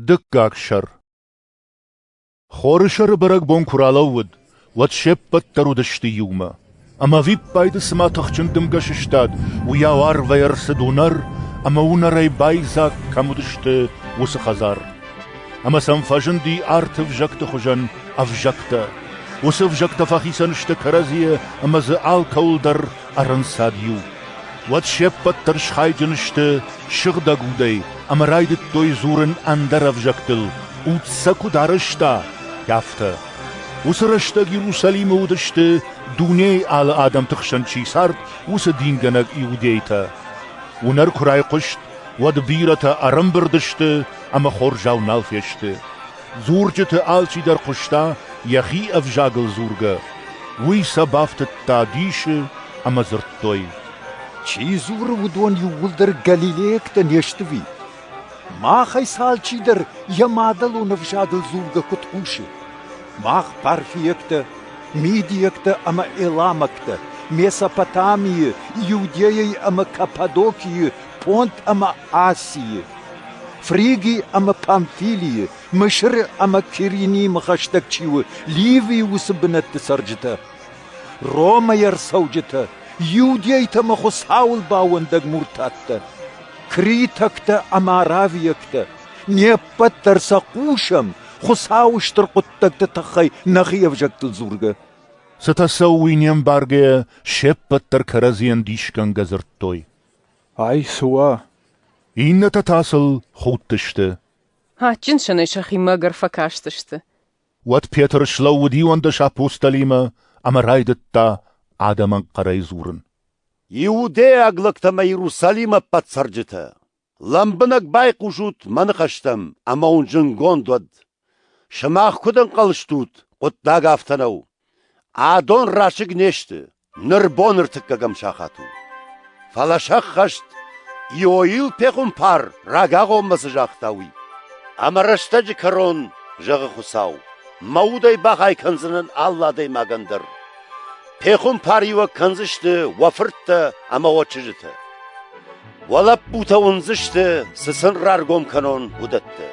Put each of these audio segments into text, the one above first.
Дыккаг сӕр Хорысӕры бӕрӕгбон куы ралӕууыд, уӕд се ппӕт дӕр уыдысты иумӕ. Ӕмӕ ӕвиппайды цыма тыхджын дымгӕ сыстад, уыйау арвӕй ӕрцыд уынӕр, ӕмӕ уынӕрӕй байдзаг кӕм уыдысты, уыцы хӕдзар. Ӕмӕ сӕм фӕзынди арты ӕвзӕгты хуызӕн ӕвзӕгтӕ. Уыцы ӕвзӕгтӕ фӕхицӕн сты кӕрӕдзийӕ ӕмӕ дзы алкӕуыл дӕр ӕрӕнцад иу. Уӕд се ппӕт дӕр схайджын сты сыгъдӕг удӕй ӕмӕ райдыдтой дзурын ӕндӕр ӕвзӕгтыл, уд сӕ куыд арӕзта, афтӕ. Уыцы рӕстӕг Иерусалимы уыдысты, дунейы алы адӕмты хсӕн чи цард, уыцы дингӕнӕг иудейтӕ. Уынӕр куы райхъуыст, уӕд бирӕтӕ ӕрӕмбырд сты ӕмӕ хорзау нал фесты. Дзурджыты алчидӕр хъуыста, йӕхи ӕвзагыл дзургӕ. Уый сӕ бафтыдта дисы ӕмӕ дзырдтой: Чи дзуры, уыдон иууылдӕр галилейӕгтӕ не сты уый? Махӕй алчидӕр йӕ мадӕлон ӕвзагыл дзургӕ куыд хъусы? Мах парфийӕгтӕ, мидийӕгтӕ ӕмӕ эламӕгтӕ, Месопотамийы, Иудейӕйы ӕмӕ Каппадокийы Пъонт ӕмӕ Асийы, Фриги ӕмӕ Памфилийы, Мысыры ӕмӕ Киринимы хӕстӕг чи у, Ливийы уыцы бынӕтты цӕрджытӕ, Ромӕйы ӕрцӕуджытӕ, иудейтӕ ӕмӕ Хуыцауыл бауӕндӕг муртаттӕ, критӕгтӕ ӕмӕ аравийӕгтӕ, не ппӕт дӕр сӕ хъусӕм, Хуыцауы стыр хъуыддӕгты тыххӕй нӕхи ӕвзӕгтыл дзургӕ. Цытӕ цӕуы уый не мбаргӕйӕ, се ппӕт дӕр кӕрӕдзийӕн дисгӕнгӕ дзырдтой. Ай цы уа? Иннӕтӕ та сыл худтысты. Адджын сӕнӕй сӕхимӕ ӕгӕр фӕкастысты. Уӕд Петр слӕууыд иуӕндӕс апостолимӕ ӕмӕ райдыдта адӕмӕн хъӕрӕй дзурын. Иудейаг лӕгтӕ мӕ Иерусалимы ӕппӕт цӕрджытӕ! Лӕмбынӕг байхъусут мӕ ныхӕстӕм ӕмӕ уын зынгонд уӕд. Сымах куыд ӕнхъӕл стут, хъуыддаг афтӕ нӕу. Адон расыг не сты, Ныр боныртыккӕгӕм сахат у. Фӕлӕ сӕххӕст, Иоил пехуымпар рагагъоммӕ цы загъта, уый. Ӕмӕ рӕстӕджы кӕрон, зӕгъы Хуыцау, мӕ удӕй бахай кӕндзынӕн алы адӕймагӕн дӕр. Пехуымпар-иуӕг кӕндзысты уӕ фырттӕ ӕмӕ уӕ чызджытӕ. Уӕ лӕппутӕ уындзысты, цы сын раргом кӕнон, уыдӕттӕ.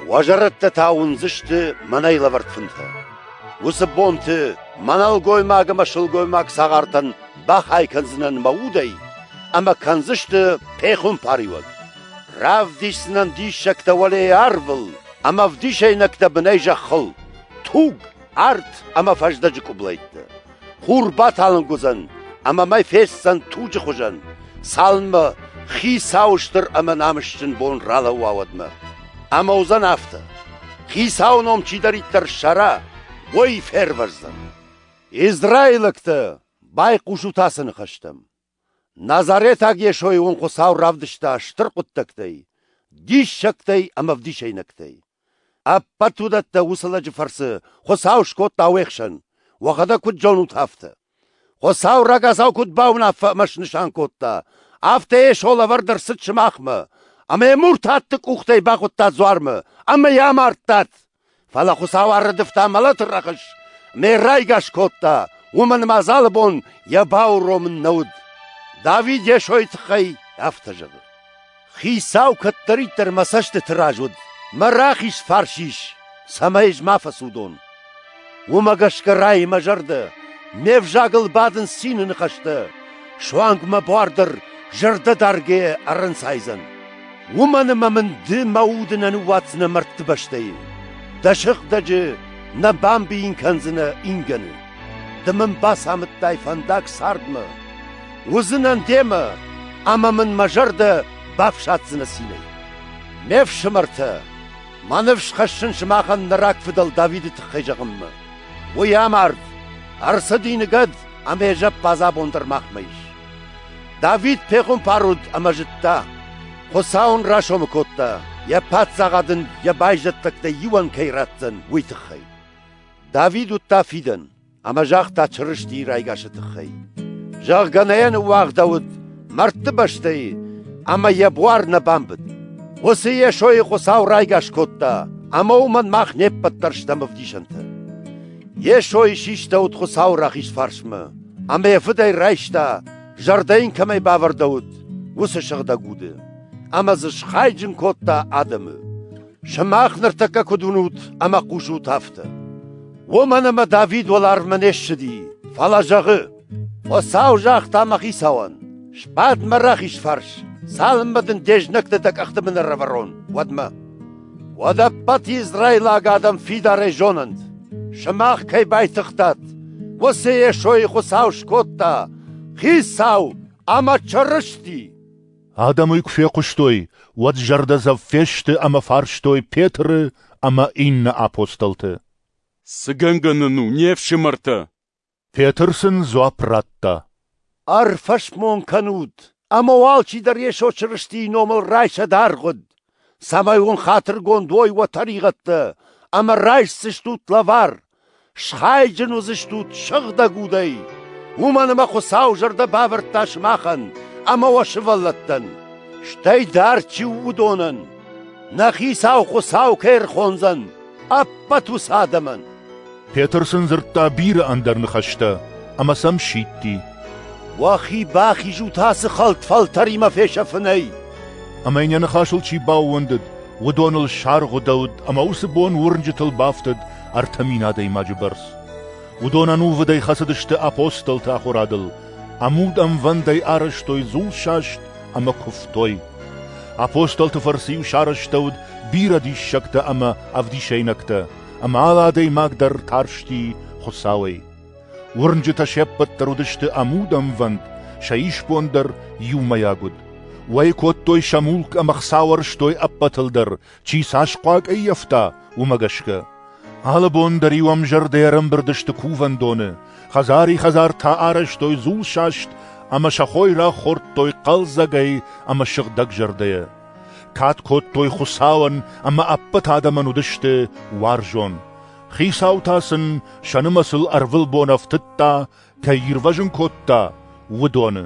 Уӕ зӕрӕдтӕ та уындзысты мӕнӕй лӕвӕрд фынтӕ. Уыцы бонты мӕ нӕлгоймаг ӕмӕ сылгоймаг цагъартӕн бахай кӕндзынӕн мӕ удӕй ӕмӕ кӕндзысты пехуымпариуӕг. Равдисдзынӕн диссӕгтӕ уӕлейы арвыл ӕмӕ ӕвдисӕйнӕгтӕ бынӕй зӕххыл, туг, арт ӕмӕ фӕздӕджы къублӕйттӕ. Хур баталынг уыдзӕн ӕмӕ мӕ фестдзӕн туджы хуызӕн, цалынмӕ хицауы стыр ӕмӕ намысджын бон ралӕууа уӕдмӕ. Ӕмӕ уыдзӕн афтӕ: хицауы ном чидӕриддӕр ссара, уый фервӕздзӕн. Израилӕгтӕ, байхъусут ацы ныхӕстӕм. Назаретаг Йесойы уын Хуыцау равдыста стыр хъуыддӕгтӕй, диссӕгтӕй ӕмӕ ӕвдисӕйнӕгтӕй. Ӕппӕт уыдӕттӕ уыцы лӕджы фӕрцы Хуыцау скодта уе хсӕн, уӕхӕдӕг куыд зонут, афтӕ. Хуыцау рагацау куыд бауынаффӕ ӕмӕ снысан кодта, афтӕ Йесо лӕвӕрд ӕрцыд сымахмӕ, ӕмӕ йӕ муртатты къухтӕй бахуыдтат дзуармӕ ӕмӕ йӕ амардтат. Фӕлӕ Хуыцау ӕррӕдывта мӕлӕты рӕхыс ӕмӕ йӕ райгас кодта, уымӕн ӕмӕ ӕз алы бон йӕ бауромын нӕ уыд. Давид Йесойы тыххӕй афтӕ зӕгъы: «Хицау кӕддӕриддӕр мӕ цӕстыты раз уыд, мӕ рахиз фарс ис, цӕмӕй ӕз ма фӕцудон. Уымӕ гӕсгӕ рай мӕ зӕрдӕ, ме взагыл бадынц цины ныхӕстӕ, суанг мӕ буар дӕр зӕрдӕдаргӕ ӕрӕнцайдзӕн. Уымӕн ӕмӕ мын ды мӕ уды нӕ ныууадздзынӕ мӕрдты бӕстӕйы. Дӕ сыгъдӕджы нӕ бамбийын кӕндзынӕ ингӕны. Ды мын бацамыдтай фӕндаг цардмӕ. Уыдзынӕн демӕ, ӕмӕ мын мӕ зӕрдӕ бафсаддзынӕ цинӕй. Ме фсымӕртӕ! Мӕ ныфс хӕссын сымахӕн нӕ рагфыдӕл Давиды тыххӕй зӕгъынмӕ. Уый амард, ӕрцыди ныгӕд ӕмӕ йӕ зӕппадзӕбон дӕр махмӕ ис. Давид пехуымпар уыд ӕмӕ зыдта, Хуыцау ын расомы кодта, йӕ паддзахад ын йӕ байзӕддӕгтӕй иуӕн кӕй ратдзӕн, уый тыххӕй. Давид уыдта фидӕн. ӕмӕ загъта Чырыстийы райгасы тыххӕй, зӕгъгӕ, нӕ йӕ ныууагъдӕуыд мӕрдты бӕстӕйы ӕмӕ йӕ буар нӕ бамбыд. Уыцы Йесойы Хуыцау райгас кодта, ӕмӕ уымӕн мах не ппӕт дӕр стӕм ӕвдисӕнтӕ. Йесойы систӕуыд Хуыцауы рахиз фарсмӕ, ӕмӕ йӕ Фыдӕй райста, зӕрдӕ йын кӕмӕй бавӕрдӕуыд, уыцы сыгъдӕг уды, ӕмӕ дзы схайджын кодта адӕмы. Сымах ныртӕккӕ куыд уынут ӕмӕ хъусут, афтӕ. Уымӕн ӕмӕ Давид уӕларвмӕ не ссыди, фӕлӕ зӕгъы: Хуыцау загъта мӕ хицауӕн: «Сбад мӕ рахиз фарс, цалынмӕ дын де знӕгты дӕ къӕхтымӕ нӕрӕвӕрон, уӕдмӕ. Уӕд ӕппӕт израилаг адӕм фидарӕй зонӕнт, сымах кӕй байтыгътат, уыцы Йесойы Хуыцау скодта, Хицау ӕмӕ Чырысти!» Адӕм уый куы фехъуыстой, уӕд зӕрдӕдзӕф фесты ӕмӕ фарстой Петры ӕмӕ иннӕ апостолты. «Цы гӕнгӕ нын у, не фсымӕртӕ?» Петр сын дзуапп радта. «Ӕрфӕсмон кӕнут, ӕмӕ уал чидӕр Йесо Чырыстийы номыл райсӕд аргъуыд. Цӕмӕй уын хатыргонд уой уӕ тӕригъӕдтӕ ӕмӕ райсдзыстут лӕвар, схайджын уыдзыстут сыгъдӕг удӕй, уымӕн ӕмӕ Хуыцау зӕрдӕ бавӕрдта сымахӕн ӕмӕ уӕ сывӕллӕттӕн, стӕй дӕр чи у, уыдонӕн, нӕ Хицау Хуыцау кӕй ӕрхондзӕн. ӕппӕт уыцы адӕмӕн. Петр сын дзырдта бирӕ ӕндӕр ныхӕстӕ ӕмӕ сӕм сидти. Уӕхи бахизут ацы хӕлд фӕлтӕримӕ фесӕфынӕй. Ӕмӕ йын йӕ ныхасыл чи баууӕндыд, уыдоныл саргъуыдӕуыд ӕмӕ уыцы бон уырнджытыл бафтыд ӕртӕ мин адӕймаджы бӕрц. Уыдон ӕнувыдӕй хӕцыдысты апостолты ахуырадыл, ӕмуд ӕмвӕндӕй арӕзтой дзулсаст ӕмӕ куывтой. Апостолты фӕрцы-иу сарӕзтӕуыд бирӕ диссӕгтӕ ӕмӕ ӕвдисӕйнӕгтӕ, ӕмӕ алы адӕймаг дӕр тарсти Хуыцауӕй. Уырнджытӕ се ппӕт дӕр уыдысты ӕмудӕнвӕнд, сӕ исбон дӕр иумӕйаг уыд. Уӕй кодтой сӕ мулк ӕмӕ хца уӕрстой ӕппӕтыл дӕр, Чи цас хъуаг ӕййӕфта, уымӕ гӕсгӕ. Алы бон дӕр-иу ӕм зӕрдӕ ӕрӕмбырд сты кувӕндоны, хӕдзари-хӕдзар та арӕзтой дзулсаст ӕмӕ сӕ хой рахордтой хъӕлдзӕгӕй ӕмӕ сыгъдӕг зӕрдӕйӕ. Кад кодтой Хуыцауӕн ӕмӕ ӕппӕт адӕмӕн уыдысты уарзон. Хицау та сын сӕ нымӕцыл ӕрвылбон ӕфтыдта, кӕй ирвӕзын кодта, уыдоны.